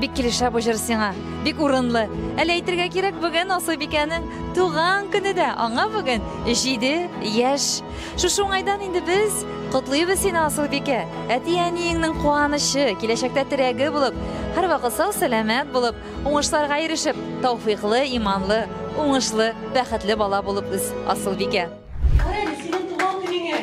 Бик килешә бу җыр сиңа. Бик урынлы. Әле әйтергә кирәк, бүген Асылбикәнең туган көне дә. Аңа бүген 7 яшь. Шушы уңайдан инде без котлыйбыз сине, Асылбикә. Әти-әниеңнең куанычы, киләчәктә терәге булып, һәрвакыт сау-сәламәт булып, уңышларга ирешеп, тауфыйклы, иманлы, уңышлы, бәхетле бала булып үс, Асылбикә. Кара әле, синең туган көнеңә!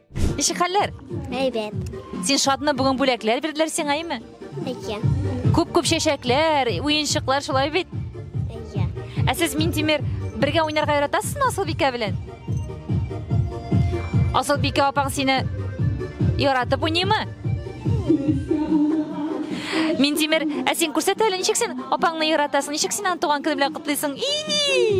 Ничек хәлләр? Әйбәт. Син шатны бүген бүләкләр бирделәр сиңа, әйме? Әйе. Күп-күп чәчәкләр, уенчыклар шулай бит. Әйе. Ә сез Минтимер бергә уйнарга яратасызмы Асылбикә белән? Асылбикә апаң сине яратып уйныймы? Минтимер, ә син күрсәт әле, ничек син апаңны яратасың, ничек син аны туган көне белән котлыйсың? И!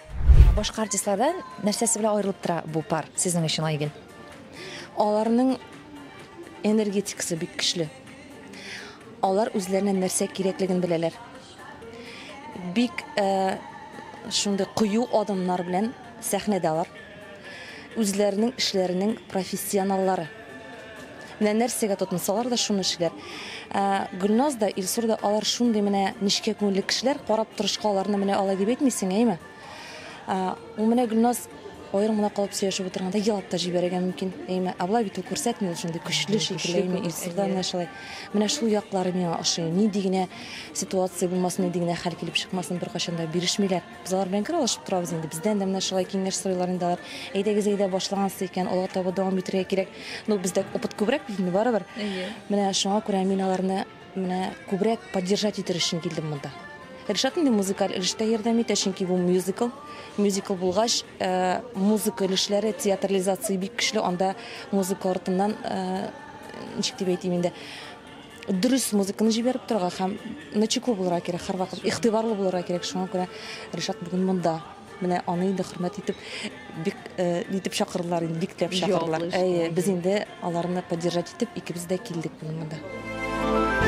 Башка артистлардан нәрсәсе белән аерылып тора бу пар сезнең өчен, Айгөл? Аларның энергетикасы бик көчле. Алар үзләренә нәрсә кирәклеген беләләр. Бик э, шундый кыю адымнар белән сәхнәдә алар. Үзләренең эшләренең профессионаллары. Менә нәрсәгә тотынсалар да, шуны эшлиләр. Ә, Гөлназ да, Илсур да алар шундый менә нечкә күңелле кешеләр, карап торышка аларны менә алай дип әйтмисең, әйеме? Ә, ул менә Гөлназ аерым гына калып сөйләшеп утырганда елап та җибәрергә мөмкин, әйеме? Ә болай бит ул күрсәтми, ул шундый көчле шикелле, әйеме? Илсур да менә шулай. Менә шул яклары миңа ошый. Нинди генә ситуация булмасын, нинди генә хәл килеп чыкмасын, беркайчан да бирешмиләр. Без алар белән гел алышып торабыз инде. Бездән дә менә шулай киңәш сорыйлар инде алар. Әйдәгез, әйдә, башлагансыз икән, алга таба дәвам итергә кирәк. Ну, бездә опыт күбрәк бит инде барыбер. Әйе. Менә шуңа күрә мин аларны менә күбрәк поддержать итер өчен килдем монда. Ришат инде музыкаль өлештә ярдәм итә, чөнки бу мюзикл. Мюзикл булгач, э, музыка өлешләре, театрализация бик көчле, анда музыка артыннан, э, ничек дип әйтим инде, дөрес музыканы җибәреп торырга һәм начеку булырга кирәк һәрвакыт игътибарлы булырга кирәк шуңа күрә ришат бүген монда менә аны инде хөрмәт итеп бик э, итеп чакырдылар инде биктәп чакырдылар әйе без инде аларны поддержать итеп икебез дә килдек бүген монда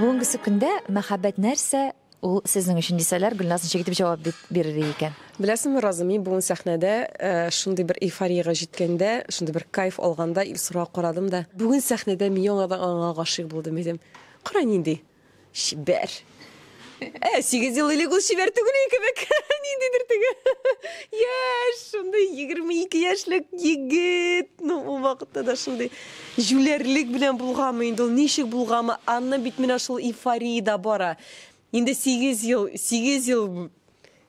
Бүгенгесе көндә мәхәббәт нәрсә ул сезнең өчен дисәләр, Гөлназ ничек итеп җавап бирер икән? Беләсеңме, Роза, мин бүген сәхнәдә э, шундый бер эйфориягә җиткәндә, шундый бер кайф алганда Илсурга карадым да, бүген сәхнәдә мин яңадан аңа гашыйк булдым дидем. Кара нинди. Чибәр. Ә, сигез ел элек ул чибәр түгел иде кебек. Ниндидер теге яшь, шундый 22 яшьлек егет. Ну, ул вакытта да шундый җүләрлек белән булганмы инде ул, ничек булганмы? Анна бит менә шул эйфория да бара. Инде 8 ел, 8 ел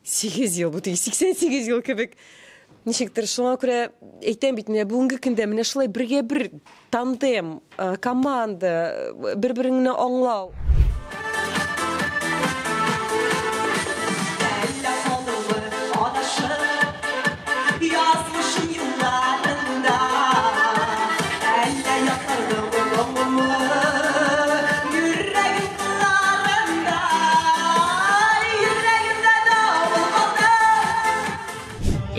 Сигез ел, бу теге 88 ел кебек. Ничектер, шуңа күрә әйтәм бит, менә бүгенге көндә менә шулай бергә бер тандем, э, команда, э, бер-береңне аңлау.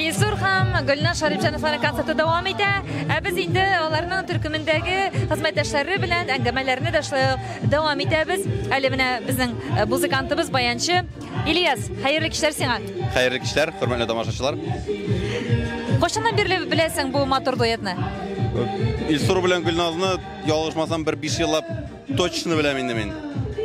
Илсур һәм Гөлназ Шарипҗановларның концерты дәвам итә. Ә без инде аларның төркемендәге хезмәттәшләре белән әңгәмәләрне дә шулай ук дәвам итәбез. Әле менә безнең э, музыкантыбыз, баянчы Ильяс, хәерле кичләр сиңа. Хәерле кичләр, хөрмәтле тамашачылар. Кайчаннан бирле беләсең бу матур дуэтны? Илсур белән Гөлназны ялгышмасам бер 5 еллап Точно беләм инде мин.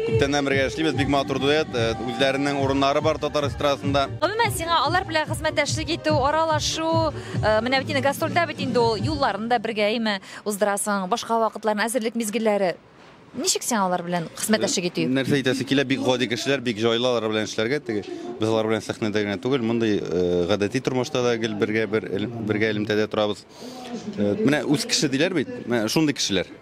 Күптәннән бергә эшлибез, бик матур дуэт, э, үзләренең урыннары бар татар эстрадасында. Гомумән сиңа алар белән хезмәттәшлек итү, аралашу, э, менә бит инде гастрольдә бит инде ул юлларын да бергә әйме уздырасың, башка вакытларын әзерлек мизгелләре. Ничек сиңа алар белән хезмәттәшлек итү? Нәрсә әйтәсе килә, бик гади кешеләр, бик җайлы алар белән эшләргә. Теге без алар белән сәхнәдә генә түгел, мондый э, гадәти тормышта да гел бергә бер элем- бергә элемтәдә торабыз. Э, Менә үз кеше диләр бит, менә шундый кешеләр.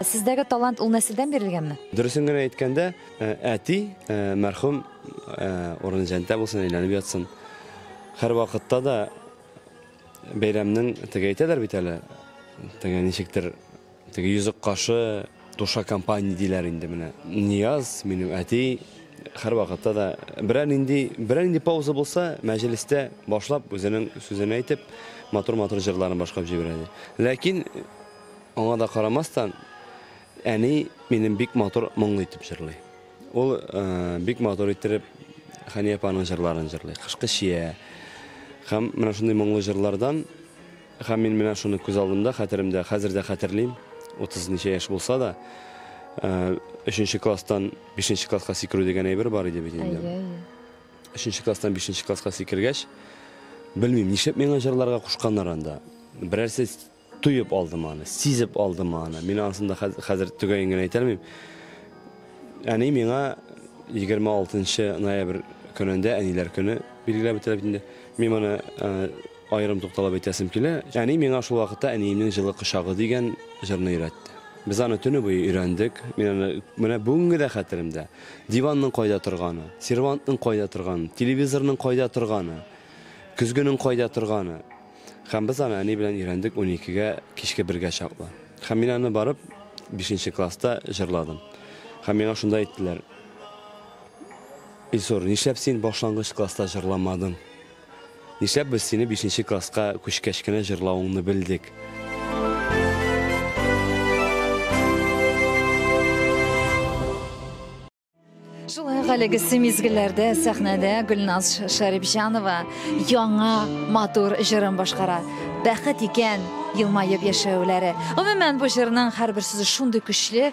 Сездәге талант ул нәселдән бирелгәнме? Дөресен генә әйткәндә, э, әти, э, мәрхүм, э, урыны җәнтә булсын, әйләнеп ятсын. Хәр вакытта да бәйрәмнең теге әйтәләр бит әле, теге ничектер, теге йөзек кашы, душа компания диләр инде менә. Нияз, минем әти, хәр вакытта да берәр нинди, берәр нинди пауза булса, мәҗлестә башлап, үзенең сүзен әйтеп, матур-матур җырларын башкарып җибәрә иде. Ләкин Аңа да карамастан, әни минем бик матур моңлы итеп җырлый. Ул бик матур иттереп Хәния апаның җырларын җырлый. Кышкы чия. Һәм менә шундый моңлы җырлардан һәм мин менә шуны күз алдымда, хәтеремдә, хәзер дә хәтерлим. 30 ничә яшь булса да, Э, өченче класстан бишенче класска сикерү дигән әйбер бар иде бит инде өченче класстан бишенче класска сикергәч белмим нишләп миңа җырларга кушканнар анда берәрсе Тоеп алдым аны, сизеп алдым аны. Мин анысын да хәзер төгәен генә әйтә алмыйм. Әни миңа 26 ноябрь көнендә, әниләр көне билгеләп үтелә бит инде. Мин моны аерым тукталып әйтәсем килә. Әни миңа шул вакытта әниемнең җылы кочагы дигән җырны өйрәтте. Без аны төне буе өйрәндек. Мин аны менә бүгенге дә хәтеремдә. Диванның кайда торганы, сервантның кайда торганы, телевизорның кайда торганы, көзгенең кайда торганы. Һәм без аны әни белән өйрәндек уникегә, кичке бергә чаклы. Һәм мин аны барып, бишенче класста җырладым. Һәм миңа шунда әйттеләр, Илсур, нишләп син башлангыч класста җырламадың? Нишләп без сине бишенче класска күчкәч кенә җырлавыңны белдек? Шулай ук әлеге мизгелләрдә сәхнәдә Гөлназ Шәрипҗанова яңа матур җырын башкара. Бәхет икән елмаеп яшәүләре. Гомумән бу җырның һәрбер сүзе шундый көчле.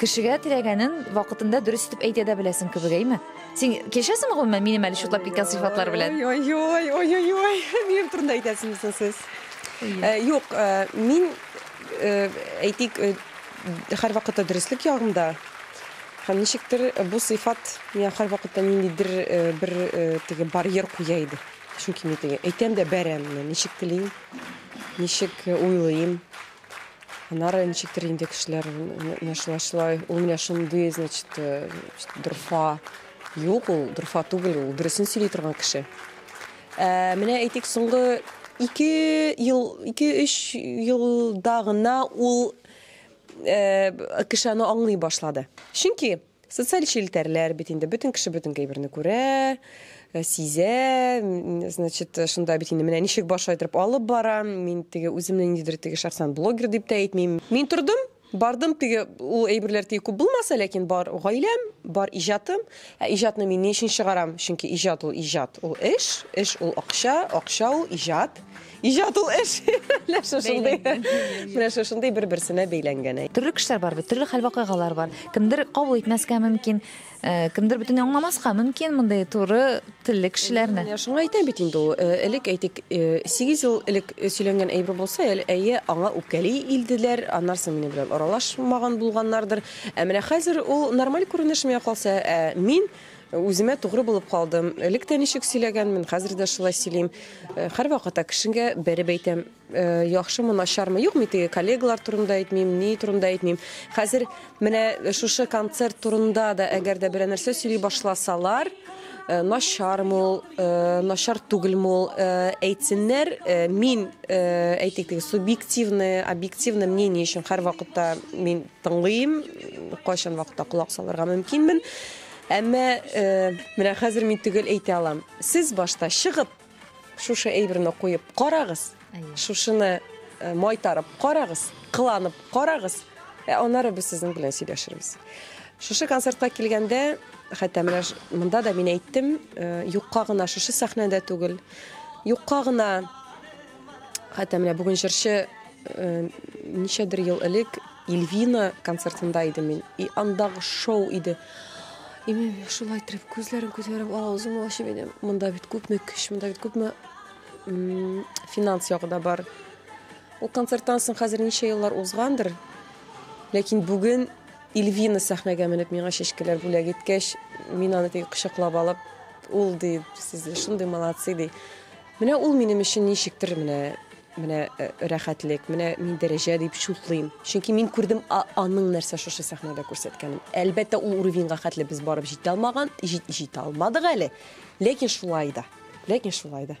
Кешегә теләгәнен вакытында дөрес итеп әйтә дә беләсең кебек, әйме? Син кешәсең гомумән минем әле чутлап киткән сыйфатлар белән. Ой, ой, ой, ой, ой, минем турында әйтәсеңез соң сез. Э, юк, э, мин э, әйтик, э, һәр вакытта дөреслек ягымда. Һәм ничектер э, бу сыйфат миңа һәр вакытта ниндидер э, бер э, теге барьер куя иде. Чөнки мин теге әйтәм дә бәрәм, ничек телим, ничек э, уйлыйм. Аннары ничектер инде кешеләр менә шулай шулай, ул менә шундый, значит, э, дорфа. Юк, ул дорфа түгел, ул дөресен сөйли торган кеше. Ә, менә әйтик, соңгы 2 ел, 2-3 елда гына ул э, кеше аны аңлый башлады. Чөнки Социаль челтәрләр бит инде бөтен кеше бөтен әйберне күрә, э, сизә, значит, э, шунда бит инде менә ничек баш айдырып алып бара, мин теге үземне ниндидер теге шәхсән блогер дип тә әйтмим. Мин тордым, бардым теге ул әйберләр теге күп булмаса, ләкин бар гаиләм, бар иҗатым. Ә иҗатны мин ни өчен чыгарам? Чөнки иҗат ул иҗат, ул эш, эш ул акча, акча ул иҗат. Иҗат ул эш. Нәрсә шундый? Менә шушындый бер-берсенә бәйләнгән. әй. Төрле кешеләр бар бит, төрле хәл-вакыйгалар бар. Кемдер кабул итмәскә мөмкин, э, кемдер бөтенләй аңламаска мөмкин мондый туры телле кешеләрне. Менә шуңа әйтәм бит инде ул. э, Элек әйтик, э, сигез ел элек э, сөйләнгән әйбер булса, әле әйе, аңа үпкәли илделәр, аннары соң минем белән аралашмаган булганнардыр. Ә менә хәзер ул нормаль күренешмә калса, ә мин Үземә тугры булып калдым. Элек тә ничек сөйләгәнмен, хәзер дә шулай сөйлим. Һәрвакыта кешегә бәреп әйтәм. Яхшымы, начармы? Юк, мин теге коллегалар турында әйтмим, ни турында әйтмим. Хәзер менә шушы концерт турында да әгәр дә берәр нәрсә сөйли башласалар, начармы ул, начар түгелме ул, әйтсеннәр, мин, әйтик, теге субъективное, объективное мнение өчен һәрвакытта мин тыңлыйм, кайчан вакытта колак салырга мөмкинмен. Әмма менә хәзер мин төгәл әйтә алам. Сез башта чыгып, шушы әйберне куеп карагыз. Шушыны майтарып карагыз, кыланып карагыз. Ә аннары без сезнең белән сөйләшербез. Шушы концертка килгәндә, хәтта менә монда да мин әйттем, юкка гына шушы сәхнәдә түгел, юкка гына хәтта менә бүген җырчы Ничәдер ел элек Ильвина концертында идем мин. И андагы шоу иде. И мин шулай итеп күзләрем күзләрем авызым ачып идем. Монда бит күпме көч, монда бит күпме финанс ягы да бар. Ул концерттан соң хәзер ничә еллар узгандыр. Ләкин бүген Ильвина сәхнәгә менеп миңа чәчкәләр бүләк иткәч, мин аны теге кочаклап алып, ул ди, сез шундый молодцы ди. Менә ул минем өчен ничектер менә Менә рәхәтлек, менә мин дәрәҗә дип чутлыйм. Чөнки мин күрдем аның нәрсә шушы сәхнәдә күрсәткәнен. Әлбәттә, ул уровеньга хәтле без барып җитә алмаган, җитә алмадык әле, ләкин шулай да, ләкин шулай да.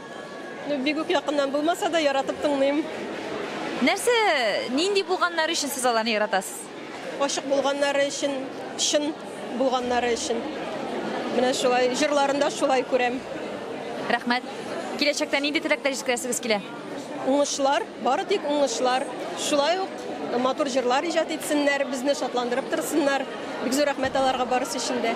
Ну, бик үк якыннан булмаса да, яратып тыңлыйм. Нәрсә, нинди булганнары өчен сез аларны яратасыз? Ачык булганнары өчен, чын булганнары өчен. Менә шулай, җырларында шулай күрәм. Рәхмәт. Киләчәктә нинди теләкләр җиткерәсегез килә? Уңышлар, бары тик уңышлар. Шулай ук матур җырлар иҗат итсеннәр, безне шатландырып торсыннар. Бик зур рәхмәт аларга барысы өчен дә.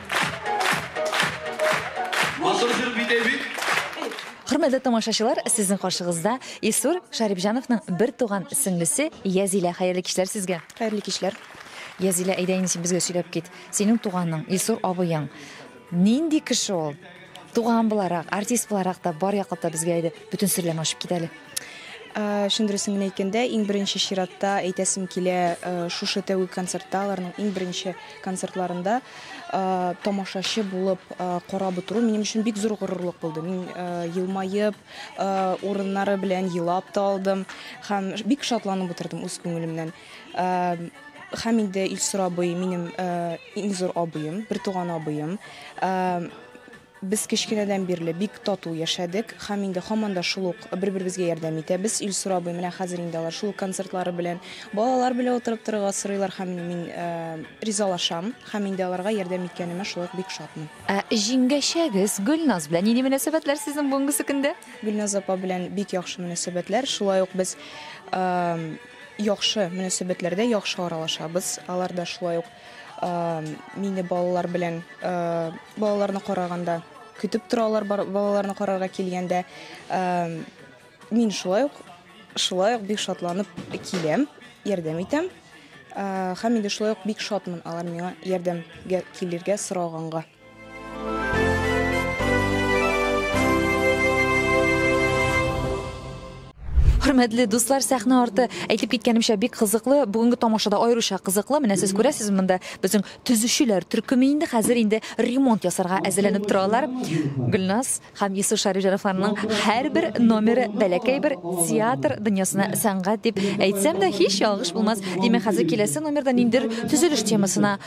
Матур җыр бит ә бит. Хөрмәтле тамашачылар, сезнең каршыгызда Исур Шарипҗановның бер туган сеңлесе Язилә. Хәерле кичләр сезгә. Хәерле кичләр. Язилә, әйдә инде син безгә сөйләп кит. Синең туганың, Исур абыең. Нинди кеше ул? Туган буларак, артист буларак та бар яклап та безгә иде бөтен серләрне ачып кит әле. Э, чын дөресен генә әйткәндә, иң беренче чиратта әйтәсем килә, э, шушы тәүге концертта, аларның иң беренче концертларында э, тамашачы булып карап утыру минем өчен бик зур горурлык булды. Мин елмаеп, урыннары белән елап та алдым һәм бик шатланып утырдым үз күңелемнән. Һәм инде Илсур абый минем иң зур абыем, бертуган абыем. Без кечкенәдән бирле бик тату яшәдек һәм инде һаман да шул ук бер-беребезгә ярдәм итәбез. Илсур абый менә хәзер инде алар шул ук концертлары белән, балалар белән утырып торырга сорыйлар һәм мин ризалашам һәм инде аларга ярдәм иткәнемә шулай ук бик шатмын. Ә җиңгәчәгез Гөлназ белән нинди мөнәсәбәтләр сезнең бүгенге көннә? Гөлназ апа белән бик яхшы мөнәсәбәтләр. Шулай ук без Яхшы мөнәсәбәтләрдә яхшы аралашабыз. Алар да шулай ук мине балалар белән балаларны караганда көтеп торалар, балаларны карарга килгәндә. Мин шулай ук шулай ук бик шатланып киләм, ярдәм итәм. Һәм инде шулай ук бик шатмын алар миңа ярдәмгә килергә сораганга. хөрмәтле дуслар сәхнә арты әйтеп киткәнемчә бик кызыклы бүгенге тамашада аеруча кызыклы менә сез күрәсез монда безнең төзүчеләр төркеме инде хәзер инде ремонт ясарга әзерләнеп торалар гөлназ һәм юсуф шәрифҗановларның һәрбер номеры бәләкәй бер театр дөньясына сәнгать дип әйтсәм дә һич ялгыш булмас димәк хәзер киләсе номерда ниндидер төзелеш темасына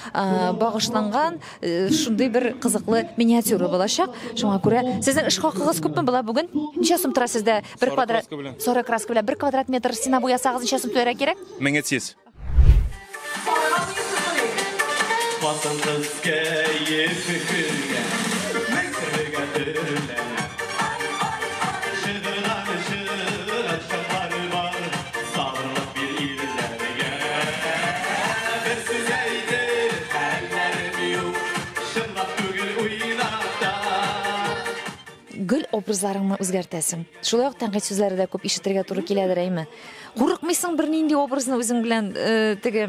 багышланган Э, шундый бер кызыклы миниатюра булачак. Шуңа күрә сезнең эш хакыгыз күпме була бүген? Ничә сум тора сездә бер квадрат? Сары краска белән бер квадрат метр стена буясагыз ничә сум түләргә кирәк? 1300. Хатын кыз кәефе көлгән, бер-бергә төрләнә. Сагындык бир ирләргә Бер сүз әйтер хәлләрем юк Чынлап түгел уйнап та Гел образларыңны үзгәртәсең. Шулай ук тәнкыйть сүзләре дә күп ишетергә туры киләдер, әйме? Курыкмыйсың бернинди образны үзең белән теге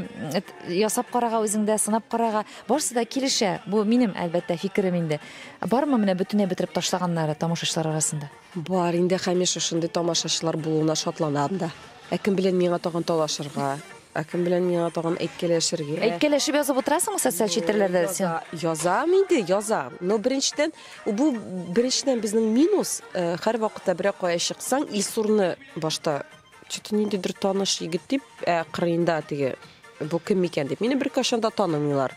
ясап карарга, үзеңдә сынап карарга? Барысы да килешә. Бу минем, әлбәттә, фикерем инде. Бармы менә бөтенләй бетереп ташлаганнары тамашачылар арасында? Бар, инде һәмишә шундый тамашачылар булуына шатланам да. Ә кем белән миңа тагын талашырга? Ә кем белән миңа тагын әйткәләшергә? Әйткәләшеп язып утырасыңмы социаль челтәрләрдә син? Яза, язам инде, язам. Но беренчедән, бу беренчедән безнең минус, һәрвакытта берәр кая чыксаң, Илсурны башта Чүт ниндидер таныш егет дип, ә кырыенда теге бу кем микән дип. Мине беркайчан да танымыйлар.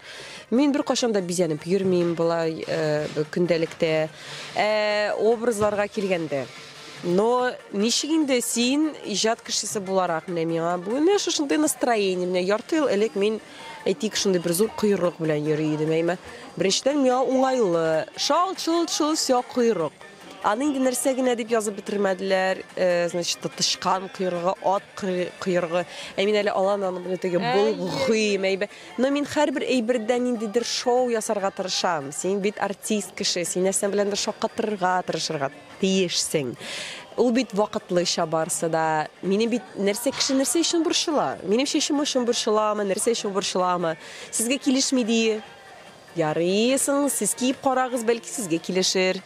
Мин беркайчан да бизәнеп йөрмим болай э, көндәлектә. Ә образларга килгәндә, но ничек инде син иҗат кешесе буларак менә миңа бүген менә шушындый настроение менә ярты ел элек мин әйтик шундый бер зур койрык белән йөри идем әйме беренчедән миңа уңайлы шалт шолт шолт все койрык Аны инде нәрсә генә дип язып бетермәделәр, э, значит, тычкан койрыгы, ат койрыгы. Ә мин әле алан аны белән теге булгыйм әйбә. Но мин һәрбер әйбердән ниндидер шоу ясарга тырышам. Син бит артист кеше, син нәрсә белән дер шаккатырырга тырышырга тиешсең. Ул бит вакытлыча барсы да. Минем бит нәрсә кеше нәрсә өчен борчыла? Минем чәчем өчен борчыламы, нәрсә өчен борчыламы? Сезгә килешми ди. Ярый, соң сез киеп карагыз, бәлки сезгә килешер.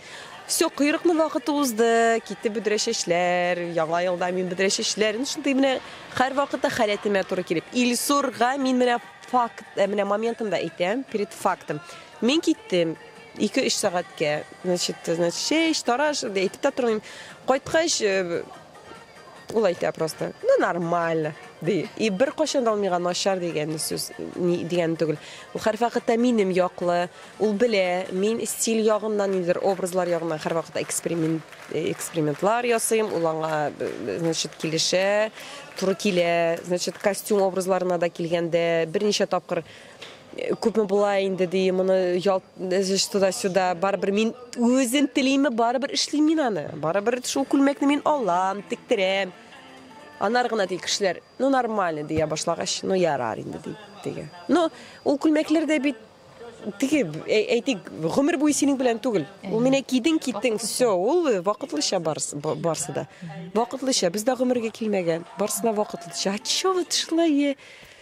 Всё, койрыкның вакыты узды, китте бөдрә чәчләр, яңа елда мин бөдрә чәчләр, ну шундый менә һәрвакытта халәтемә туры килеп. Илсурга мин менә факт, ә менә моментын да әйтәм, перед фактом. Мин киттем ике-өч сәгатькә, значит, значит, чәч, тараш, әйтеп тә тормыйм. Кайткач, э. Ул әйтә просто, ну нормально, ди. И бер кашын да алмыйга начар дигән сүз ни дигән түгел. Ул хәр вакытта минем яклы, ул белә, мин стиль ягыннан нидер образлар ягыннан хәр вакытта эксперимент экспериментлар ясыйм, ул аңа значит килешә, туры килә. Значит, костюм образларына да килгәндә берничә тапкыр Күпме була инде ди, моны ялт эзеш туда-сюда, барыбер мин үзем телиме, барыбер эшлим мин аны. Барыбер шул күлмәкне мин алам, тиктерәм. Анар гына ди кешеләр, ну нормально дия башлагач, ну ярар инде ди, диге. Ну, ул күлмәкләр дә бит теге әйтик, гомер буе синең белән түгел. Ул менә кидең, киттең, все, ул вакытлыча барсы, барсы да. Вакытлыча, без дә гомергә килмәгән. Барсына вакытлыча. А чё вот шулай?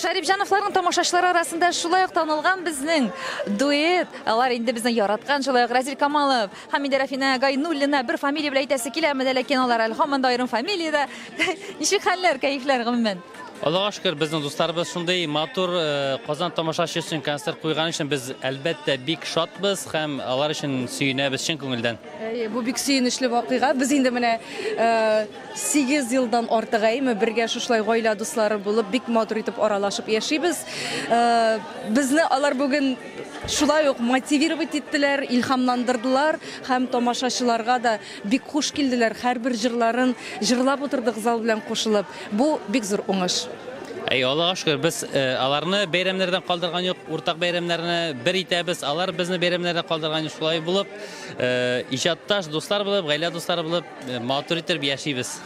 Шәрипҗановларның тамашачылары арасында шулай ук танылган безнең дуэт. Алар инде безне яраткан, шулай ук Разил Камалов, Хамидә Рафина Гайнуллина бер фамилия белән әйтәсе киләме дә, ләкин алар әле һаман да аерым фамилиядә. Ничек хәлләр, кәефләр, гомумән? Аллага шөкер, безнең дусларыбыз шундый матур э, Казан тамашачы өчен концерт куйган өчен без әлбәттә бик шатбыз һәм алар өчен сөенәбез чын күңелдән. Әйе, бу бик сөенечле вакыйга. Без инде менә э, Сигез елдан артык әйме бергә шушылай гаилә дуслары булып, бик матур итеп аралашып яшибез. Безне алар бүген шулай ук мотивировать иттеләр, илһамландырдылар һәм тамашачыларга да бик хуш килделәр, һәрбер җырларын җырлап утырдык зал белән кушылып. Бу бик зур уңыш. Әй, Аллага шөкер, без аларны бәйрәмнәрдән калдырган юк, уртак бәйрәмнәрне бер итәбез, алар безне бәйрәмнәрдән калдырган юк. Шулай булып, иҗатташ дуслар булып, гаилә дуслары булып, Матур итеп яшибез.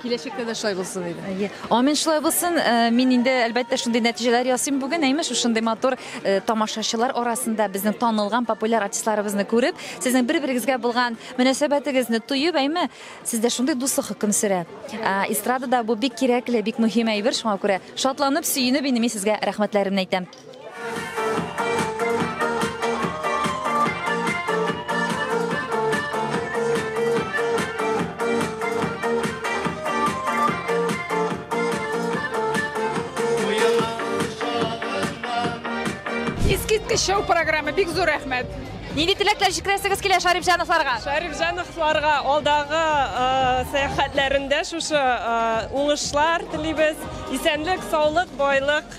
Киләчәктә дә шулай булсын иде. Амин шулай булсын. Э, мин инде әлбәттә шундый нәтиҗәләр ясыйм бүген. Әйме шушындый матур э, тамашачылар арасында безнең танылган популяр артистларыбызны күреп, сезнең бер-берегезгә булган мөнәсәбәтегезне тоеп, әйме сездә шундый дуслык хөкем сөрә. Э, эстрадада бу бик кирәкле, бик мөһим әйбер, шуңа күрә шатланып, сөенеп инде мин сезгә рәхмәтләремне әйтәм. Искиткеч шоу программы, бик зур рәхмәт. Нинди теләкләр җиткерәсегез килә Шарифҗановларга? Шәрифҗановларга алдагы э, сәяхәтләрендә шушы э, уңышлар телибез. Исәнлек, саулык, байлык.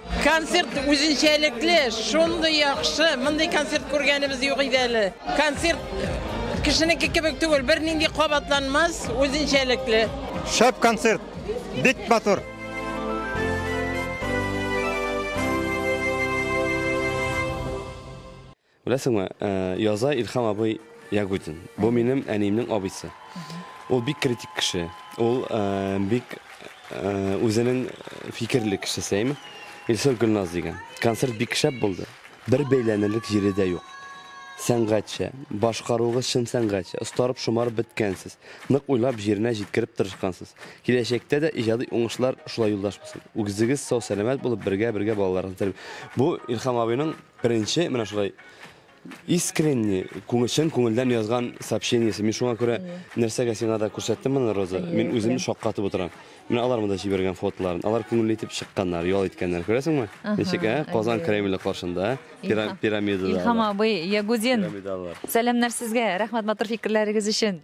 Концерт үзенчәлекле, шундый яхшы, мондый концерт күргәнебез юк иде әле. Концерт кешенеке кебек түгел, бернинди кабатланмас, үзенчәлекле. Шәп концерт, бик матур. Беләсеңме, яза Илһам абый Ягудин. Бу минем әниемнең абыйсы. Ул бик критик кеше. Ул бик үзенең фикерле кешесе, әйме? Илсур Гөлназ дигән. Концерт бик шәп булды. Бер бәйләнерлек җире дә юк. Сәнгатьчә, башкаруыгыз чын сәнгатьчә, остарып, шомарып беткәнсез. Нык уйлап, җиренә җиткереп тырышкансыз. Киләчәктә дә иҗади уңышлар шулай юлдаш булсын. Үзегез сау-сәламәт булып, бергә-бергә балаларыгызны тәрбия. Бу Илһам абыйның Беренче менә шулай искренне, чын күңелдән язган сообщениесе. Мин шуңа күрә нәрсәгә сиңа да күрсәттем моны, Роза. Мин үзем шаккатып утырам. Менә алар монда җибәргән фотоларын. Алар күңелле итеп чыкканнар, ял иткәннәр. Күрәсеңме? Ничек, ә? Казан Кремле каршында, пирамидада. Илһам абый, Ягудин. Пирамидалар. Сәламнәр сезгә. Рәхмәт матур фикерләрегез өчен.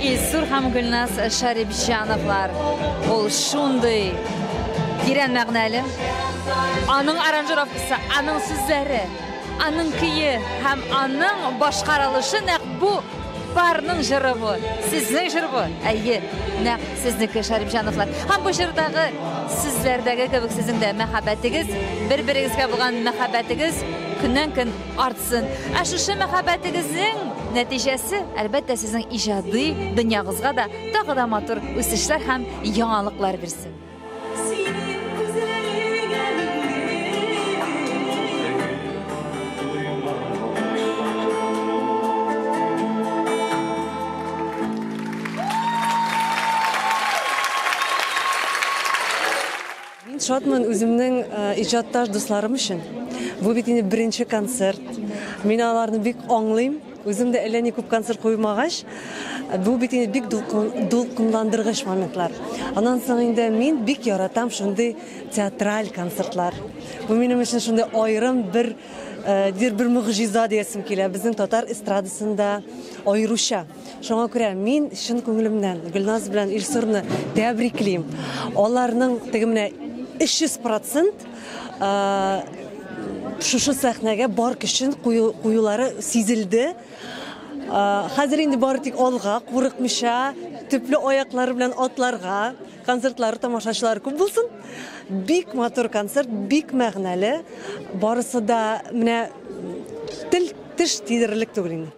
Илсур һәм Гөлназ Шәрипҗановлар. Ул шундый тирән мәгънәле. Аның аранжировкасы, аның сүзләре, аның көе һәм аның башкарылышы нәкъ бу парның җыры бу. Сезнең җыр бу. Әйе, нәкъ сезнеке Шәрипҗановлар. Һәм бу җырдагы сүзләрдәге кебек сезнең дә мәхәббәтегез, бер-берегезгә булган мәхәббәтегез көннән-көн артсын. Ә шушы мәхәббәтегезнең нәтиҗәсе, әлбәттә, сезнең иҗади дөньягызга да тагы да матур үсешләр һәм яңалыклар бирсен. Мин шатмын үземнең иҗатташ дусларым өчен. Бу бит инде беренче концерт. Мин аларны бик аңлыйм. Үзем дә әллә ни күп концерт куймагач, бу бит инде бик дулкынландыргыч моментлар. Аннан соң инде мин бик яратам шундый театраль концертлар. Бу минем өчен шундый аерым бер дир бер могҗиза диясем килә. Безнең татар эстрадасында аеруча. Шуңа күрә мин чын күңелемнән Гөлназ белән Илсурны тәбриклим. Аларның теге менә 300% шушы сәхнәгә бар көчен куюлары сизелде. Хәзер инде бары тик алга, курыкмыйча, төпле аяклар белән атларга, концертлары тамашачылар күп булсын. Бик матур концерт, бик мәгънәле. Барысы да менә тел теш тидерерлек түгел инде.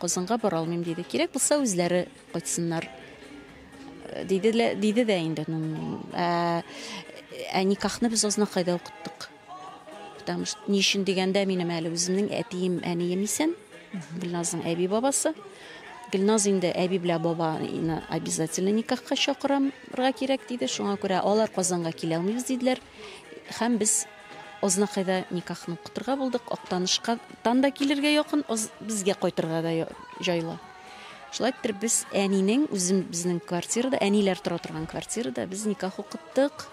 Казанга бара алмыйм, диде. Кирәк булса, үзләре кайтсыннар. Э, диде, диде дә инде. Ә, ә никахны без Азнакайда укыттык. Потому что ни өчен дигәндә минем әле үземнең әтием, әнием исән. Гөлназның әби бабасы. Гөлназ инде әби белә бабаны обязательно никахка чакырамырга кирәк диде. Шуңа күрә алар Казанга килә алмыйбыз диделәр. Һәм без Ознакайда никахны укытырга булдык. Актанышка тан да килергә якын, безгә кайтырга да җайлы. Шулай итеп без әнинең үзем безнең квартирада, әниләр тора торган квартирада без никах укыттык.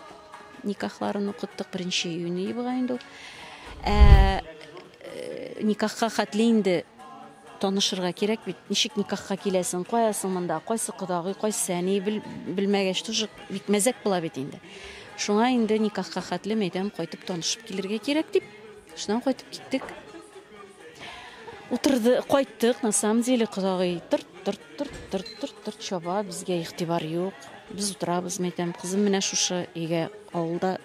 Никахларын укыттык беренче июнь була инде. Ә э, никахка хәтле инде Танышырга кирәк бит, ничек никахка киләсең, кая соң монда, кайсы кодагый, кайсы әни, бел, белмәгәч тоже бик мәзәк була бит инде. Шуңа инде никахка хәтле мәйдән кайтып танышып килергә кирәк дип, шуннан кайтып киттек. Утырды, кайттык, на самом деле, кодагый тырт, тырт, тырт, тырт, тырт, тырт чаба, безгә игътибар юк. Без утырабыз, мәйтәм, кызым менә шушы өйгә, авылда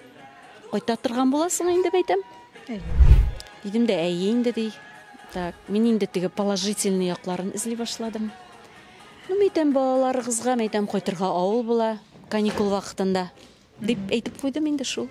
Кайта торган буласың инде бәйтәм. Дидем дә, әйе инде ди. Так, мин инде теге положительный якларын эзли башладым. Ну, мәйтәм балаларыгызга, мәйтәм кайтырга авыл була, каникул вакытында. Дип әйтеп куйдым инде шул.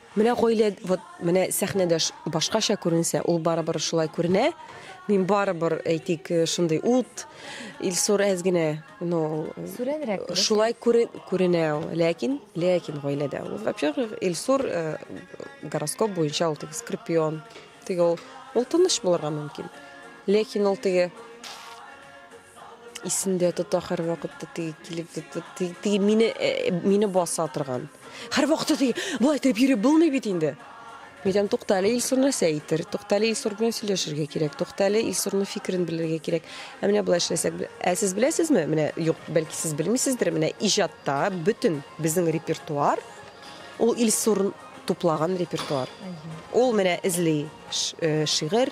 Менә гаилә вот менә сәхнәдә башкача күренсә, ул барыбер шулай күренә. Мин барыбер, әйтик, шундый ут, Илсур әз генә, ну, Сүрәнрәк күренсә. Шулай күренә ул, ләкин, ләкин гаиләдә ул. Во-первых, Илсур гороскоп буенча ул теге скорпион. Теге ул, ул тыныч булырга мөмкин. Ләкин ул теге Исендә тота һәрвакытта теге килеп теге мине э, мине баса торган. Һәрвакытта теге болай итеп йөри булмый бит инде. Мидәм туктале Илсур нәрсә әйтер? Туктале Илсур белән сөйләшергә кирәк. Туктале Илсурның фикерен белергә кирәк. Ә менә болай эшләсәк, ә сез беләсезме? Менә юк, бәлки сез белмисездер, менә иҗатта бөтен безнең репертуар ул Илсур туплаган репертуар. Ул менә эзли э, шигырь,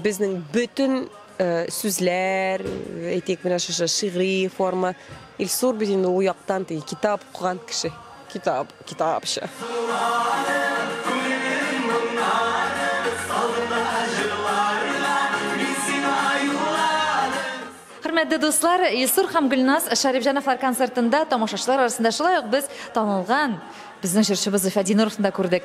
Безнең бөтен сүзләр, әйтик, менә шушы шигъри форма, Илсур бит инде ул яктан теге китап укыган кеше. Китап, китапча. Хөрмәтле дуслар, Илсур һәм Гөлназ Шәрифҗановлар концертында тамашачылар арасында шулай ук без танылган безнең җырчыбыз Зөлфәт Зиннуровны да күрдек.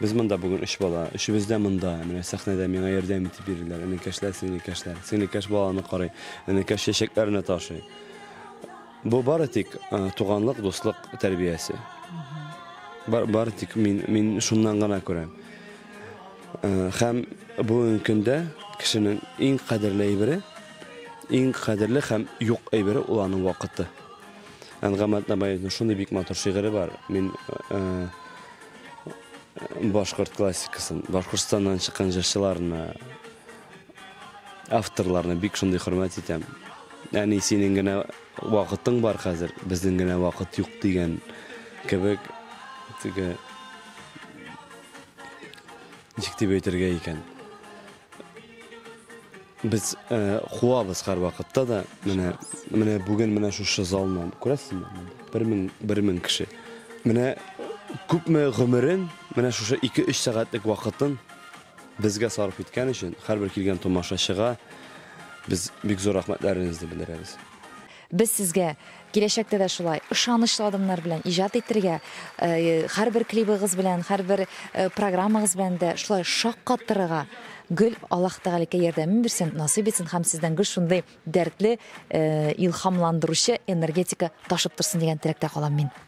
Без монда бүген өч бала. Өчебез дә монда. Менә сәхнәдә миңа ярдәм итеп йөриләр. Энекәшләр, сеңлекәшләр. Сеңлекәш баланы карый. Энекәш чәчәкләрне ташый. Бу бары тик туганлык, дуслык тәрбиясе. Бары тик мин, мин шуннан гына күрәм. Хәм бүгенге көндә кешенең иң кадерле әйбере, иң кадерле хәм юк әйбере ул аның вакыты. Әнгамат Набаевның шундый бик матур шигыре бар. Мин башкорт классикасын башкортстаннан чыккан җырчыларны авторларны бик шундый хөрмәт итәм әни синең генә вакытың бар хәзер безнең генә вакыт юк дигән кебек теге ничек дип әйтергә икән Без э, куабыз һәр вакытта да. Менә менә бүген менә шушы залны күрәсезме? 1000 1000 кеше. Менә күпме гомерен, менә шушы 2-3 сәгатьлек вакытын безгә сарыф иткән өчен һәрбер килгән томашачыга без бик зур рәхмәтләребезне белдерәбез. Без сезгә, киләчәктә дә шулай, ышанычлы адымнар белән иҗат итергә, һәрбер клибыгыз белән, һәрбер программагыз белән дә шулай шаккатырырга гел Аллаһ Тәгаләкә ярдәмен бирсен, насыйп итсен һәм сездән гел шундый дәртле, илһамландыручы энергетика ташып торсын дигән теләктә калам мин.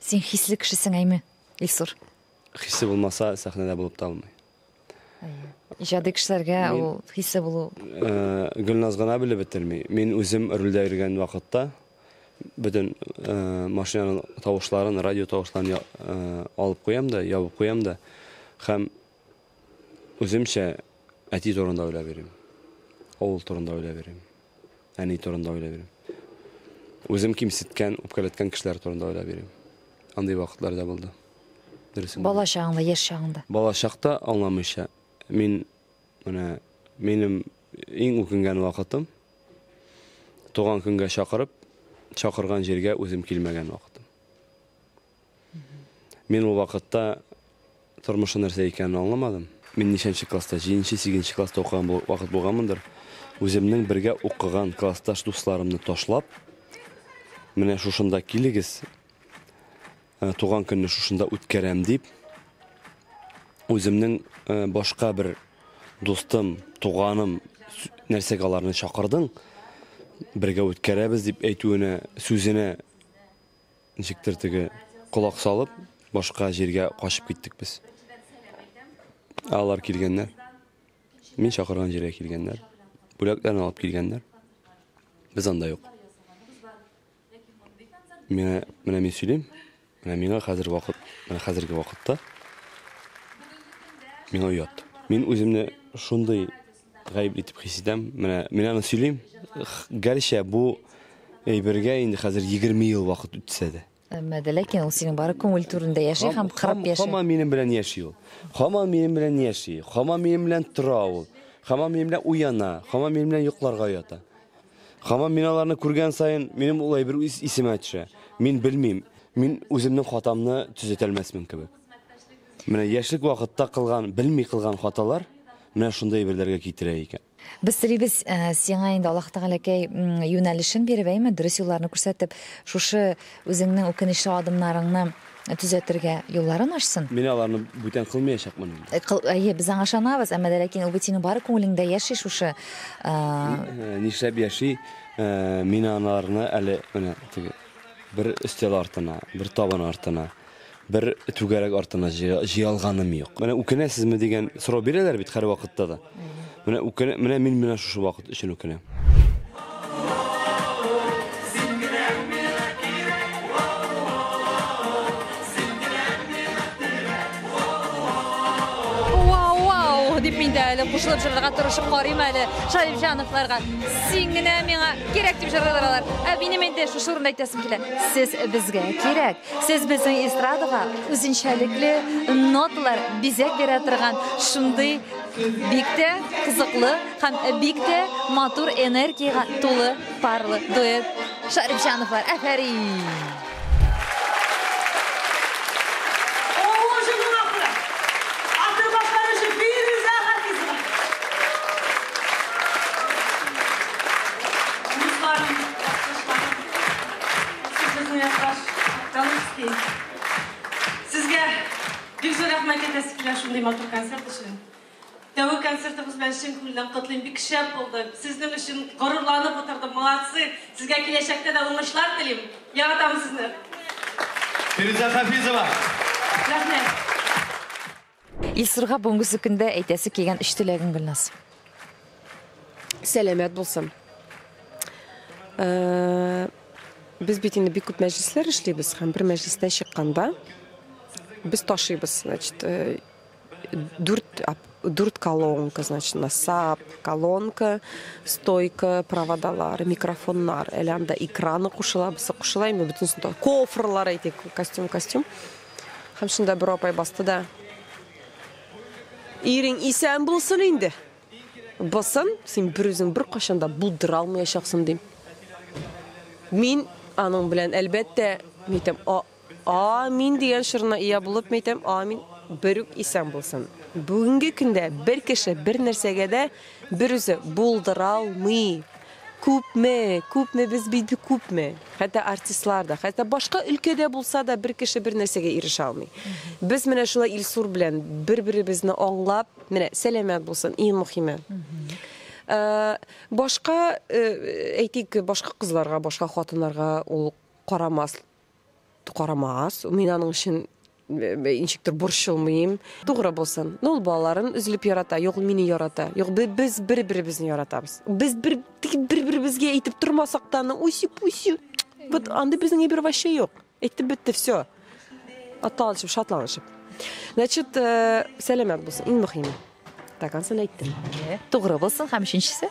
Син хисле кешесең, әйме, Илсур? Хисе булмаса, сәхнәдә булып та алмый. Иҗади кешеләргә ул хисле булу. Э, Гөлназ гына белеп бетерми. Мин үзем рульдә йөргән вакытта бөтен э, машинаның тавышларын, радио тавышларын э, алып куям да, ябып куям да. Һәм Үземчә әти турында уйлап йөрим. Авыл турында уйлап йөрим. Әни турында уйлап йөрим. Үзем кимсеткән, үпкәләткән кешеләр турында уйлап йөрим. Андый вакытлар да булды. Дөресен. Бала чагыңда, яшь чагыңда. Бала чакта аңламыйча. Мин менә минем иң үкенгән вакытым туган көнгә чакырып, чакырган җиргә үзем килмәгән вакытым. Мин ул вакытта тормышның нәрсә икәнен аңламадым. Мин ничәнче класста, җиденче, сигезенче класста укыган вакыт булганмындыр, үземнең бергә укыган классташ дусларымны ташлап, менә шушында килегез, э, туган көнне шушында үткәрәм дип, үземнең э, башка бер дустым, туганым, нәрсәгә аларны чакырдың, бергә үткәрәбез дип әйтүенә, сүзенә Ничектер теге колак салып, башка җиргә качып киттек без. Алар килгәннәр. Мин чакырган җиргә килгәннәр. Бүләкләрне алып килгәннәр. Без анда юк. Менә, менә мин сөйлим. Менә миңа хәзер вакыт, менә хәзерге вакытта миңа уят. Мин үземне шундый Гаепле итеп хис итәм. Менә мин аны сөйлим. Гәрчә бу әйбергә инде хәзер 20 ел вакыт үтсә дә. Әмма дә ләкин ул синең бары күңел түрендә яши һәм кырып яши. Хама минем белән яши ул. Хама минем белән яши. Хама минем белән тора ул. Хама минем белән уяна. Хама минем белән йокларга ята. Хама мин аларны күргән саен минем ул әйбер исемә төшә. Мин белмим. Мин үземнең хатамны төзәтәлмәсмен кебек. Менә яшьлек вакытта кылган, белми кылган хаталар менә шундый әйберләргә китерә икән. Без телибез, э, сиңа инде Аллаһ Тәгаләкәй юнәлешен биреп, әйме, дөрес юлларны күрсәтеп, шушы үзеңнең үкенечле адымнарыңны төзәтергә юлларын ачсын. Мин аларны бүтән кылмаячакмын инде. Э, кыл, әйе, без аңа ышанабыз, әмма дә ләкин ул бит синең бары күңелеңдә яши шушы. Э, э, нишләп яши? Мин аларны әле менә теге бер өстәл артына, бер табын артына Бер түгәрәк артына җыялганым юк. Менә үкенәсезме дигән сорау бирәләр бит һәрвакытта да. Менә үкенә, менә мин менә шушы вакыт өчен үкенәм. дип мин дә әле кушылып җырларга тырышып карыйм әле Шарифҗановларга. Син генә миңа кирәк дип җырлыйлар алар. Ә минем инде шушы урында әйтәсем килә. Сез безгә кирәк. Сез безнең эстрадага үзенчәлекле ноталар, бизәк бирә торган шундый бик тә кызыклы һәм бик тә матур энергиягә тулы парлы дуэт. Шарипҗановлар, әфәрин! Сезгә бик зур рәхмәт әйтәсе килә шундый матур концерт өчен. Тәүге концертыбыз белән чын күңелдән котлыйм. Бик шәп булды. Сезнең өчен горурланып утырдым. Молодцы. Сезгә киләчәктә дә уңышлар телим. Яратам сезне. Фирүзә Хафизова. Рәхмәт. Илсурга бүгенге көндә әйтәсе килгән өч теләгең, Гөлназ? Сәламәт булсын. Э, без бит инде бик күп мәҗлесләр эшлибез һәм бер мәҗлестән чыкканда без ташыйбыз, значит, э, дүрт дүрт колонка, значит, насап, колонка, стойка, проводалар, микрофоннар, әле анда экраны кушыла, бусы кушыла, инде бөтенесен кофрлар әйтик, костюм, костюм. Һәм шунда бер апай басты да. Ирең исән булсын инде. Бысын, син бер үзең бер кашанда булдыра алмаячаксың дим. Мин аның белән әлбәттә, митем, а, а мин дигән шырына ия булып митем, а мин бер үк исән булсын. Бүгенге көндә бер кеше бер нәрсәгә дә бер үзе булдыра алмый. Күпме, күпме, без бит бик күпме. Хәтта артистлар да, хәтта башка өлкәдә булса да бер кеше бер нәрсәгә ирешә алмый. Без менә шулай Илсур белән бер-беребезне аңлап, менә сәламәт булсын, иң мөхиме. Э, башка, э, әйтик, башка кызларга, башка хатыннарга ул карамас Карамагыз, мин аның өчен ничектер борчылмыйм. Тугры булсын. Ну, ул балаларын өзелеп ярата, юк мине ярата. Юк, без бер-беребезне яратабыз. Без бер бер-беребезгә әйтеп тормасак та, ну, үсеп-үсеп. Вот андый безнең әйбер вообще юк. Әйтеп бетте все. Аталышып, шатланышып. Значит, э, сәламәт булсын, иң мөхиме. Так, ансын әйттем. Тугры булсын һәм өченчесе?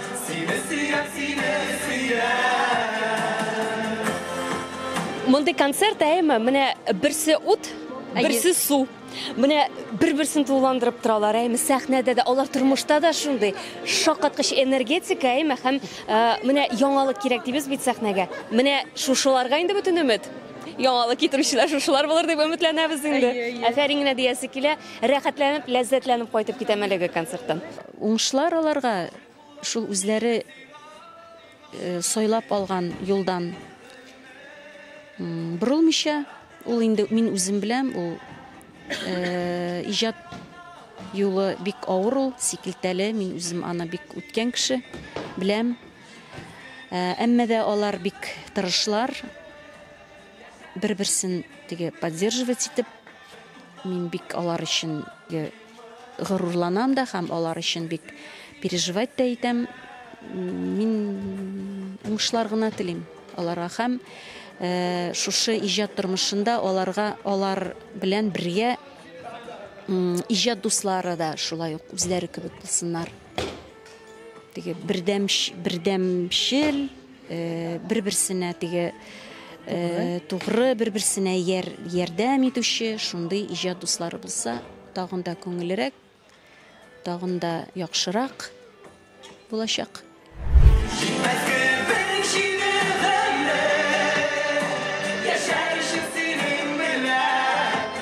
Сине сөям, сине сөям. Мондый концерт әйме, менә берсе ут, берсе су. Менә бер-берсен тулыландырып торалар, әйме сәхнәдә дә, алар тормышта да шундый шаккаткыч энергетика, әйме һәм менә яңалык кирәк дибез бит сәхнәгә. Менә шушыларга инде бөтен өмет. Яңалык китерүчеләр шушылар булыр дип өметләнәбез инде. Әфәрин генә диясе килә. Рәхәтләнеп, ләззәтләнеп кайтып китәм әлеге концерттан. Уңышлар аларга шул үзләре сайлап алган юлдан борылмыйча, ул инде мин үзем беләм, ул иҗат юлы бик авыр ул, сикелтәле, мин үзем аны бик үткән кеше, беләм. Әмма дә алар бик тырышлар, бер-берсен теге поддерживать итеп, мин бик алар өчен Горурланам да һәм алар өчен бик переживать та итәм. Мин уңышлар гына телим аларга һәм шушы иҗат тормышында аларга алар белән бергә иҗат дуслары да шулай ук үзләре кебек булсыннар. теге бердәмш бердәмшел э, бер берсенә теге э, тугры бер берсенә яр, ярдәм итүче шундый иҗат дуслары булса тагын да күңелерәк тагын да яхшырак булачак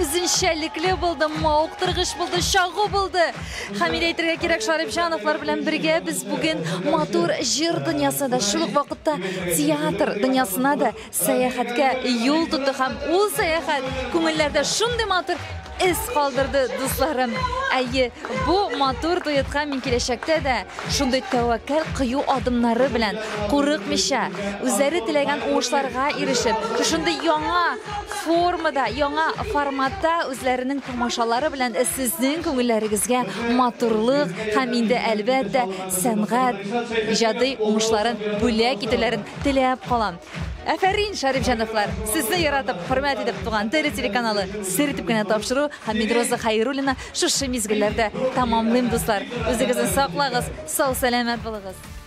үзенчәлекле булды, мавыктыргыч булды, чагу булды. Хәмилә әйтергә кирәк, Шарипҗановлар белән бергә без бүген матур җыр дөньясына да, шул ук вакытта театр дөньясына да сәяхәткә юл тотты һәм ул сәяхәт күңелләрдә шундый матур эз калдырды, дусларым. Әйе, бу матур дуэтка мин киләчәктә дә шундый тәвәккәл кыю адымнары белән, курыкмыйча, үзләре теләгән уңышларга ирешеп, шундый яңа формада, яңа форматта үзләренең тамашалары белән сезнең күңелләрегезгә матурлык һәм инде әлбәттә сәнгать иҗади уңышларын бүләк итүләрен теләп калам. Әфәрин, Шәрифҗановлар! Сезне яратып, хөрмәт итеп туган Теле телеканалы сер итеп кенә тапшыру һәм Медроза Хәйруллина шушы мизгелләрдә тәмамлыйм, дуслар. Үзегезне саклагыз, сау-сәламәт булыгыз.